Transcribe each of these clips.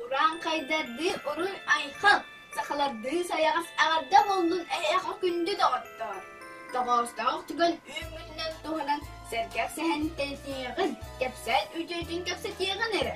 Урааҥхайдардыы уруй айхал, сахалардыы сайаҕас аҕарда боллун эйэхо күндү доҕоттоор. Тоҕоостоох түгэн үүммүтүнэн туһанан сэргэх сэһэнтэн тиэҕин, кэпсээн үтүөтүн кэпсэтиэҕин эрэ.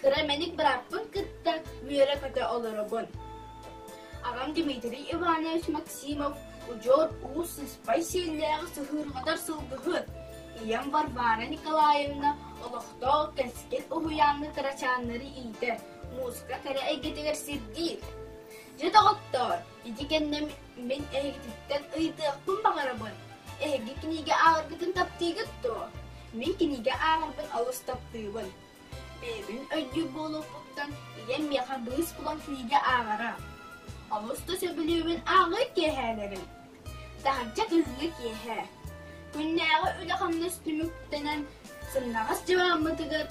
кыра мэник бырааппын кытта үөрэ-көтө олоробун. Аҕам Дмитрий Иванович Максимов удьуор уус сыспай сиэллээх сыһыырҕатар сылгыһыт, ийэм Варвара Николаевна олохтоох кэскил уһуйааҥҥа кырачааннары иитэр, мууска кэрэ эйгэтигэр сирдиир. Дьэ доҕоттоор, ити кэннэ мин эһигититтэн ыйытыахпын баҕарабын. Эһиги кинигэ ааҕаргытын таптыыгыт дуо? Мин кинигэ ааҕарбын олус таптыыбын. Бэйэбин өйдүүр буолуохпуттан ийэм миэхэ быыс булан сиигэ ааҕара. Олус да сөбүлүүбүн ааҕыы киэһээлэрин. Таһырдьа кыһыҥҥы киэһэ. Күннээҕи үлэ-хамнас түмүктэнэн сымнаҕас дьыбааммытыгар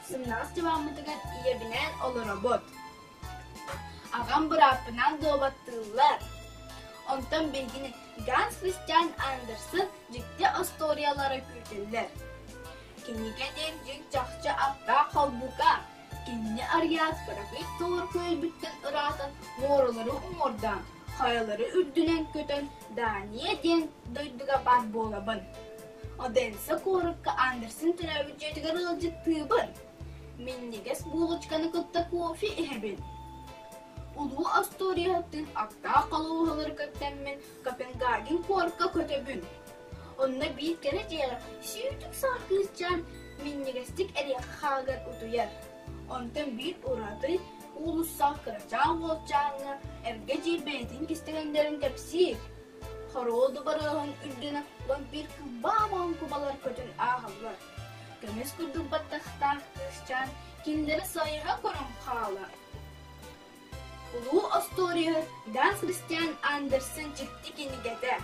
сымнаҕас дьыбааммытыгар ийэбинээн олоробут. Аҕам бырааппынаан дуобаттыыллар. Онтон билигин Ганс Христиан Андерсон дьикти остуоруйалара күүтүллэр. Кинигэ диэн дьиҥ чахчы аптаах холбука. Кинини Ариас бырагыт тоор күөлбүттэн ыраатан муоралары уҥуордаан, хайалары үрдүнэн көтөн Дания диэн дойдуга бар буолабын. Одесса куоракка Андерсон төрөөбүт дьиэтигэр ыалдьыттыыбын. Минньигэс булочканы кытта кофе иһэбин Улуу остуоруйаттыын аптаах холуоһалары кэпсэммин Копенгаген куорка көтөбүн Онно биир кэрэ дьиэҕэ сүүтүк саа кыысчаан минньигэстик эриэхэ хааһыгар утуйар Онтон биир ураты уулуссаҕа кырачаан уолчааҥҥа эргэ дьиэ бэйэтин кистэлэҥнэрин кэпсиир Хоруол дубарыаһын үрдүнэ вампир кылбаам оҥкубалар көтөн ааһаллар Көмүс курдук баттахтаах кыысчаан кинилэри сойуһа көрөн хаалар. Улуу остуоруйа Дан Христиан Андерсон дьикти кинигэтэ.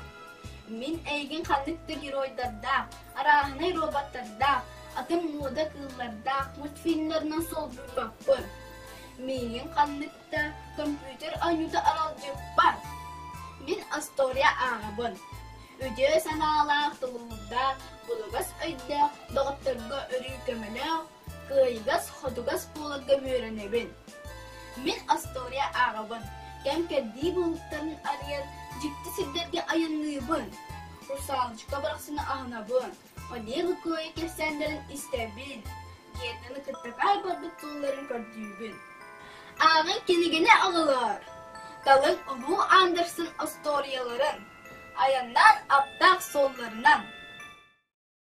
Мин эйигин ханнык да геройдардаах, арааһынай роботтардаах, атын мууда кыыллардаах мультфильмларынан солбуйбаппын. Миигин ханнык да компьютер оонньуута аралдьыппат. Мин остуоруйа ааҕабын. Үтүө санаалаах тулуурдаах, булугас өйдөөх доҕотторго өрүү көмөлөөх, кыайыгас-хотугас буоларга үөрэнэбин. Мин остуоруйа ааҕабын, кэм-кэрдии буолуктарын арыйан, дьикти сирдэргэ айанныыбын. Русалочка барахсаны аһынабын. Одеҕы кыайа кэпсээннэрин истэбин, диэтин кытта хаалбаппыт тылларын көрдүүбүн. Ааҕын кинигини аҕалар, талын улуу Андерсон остуоруйаларын, айаннаан аптаах суолларынан.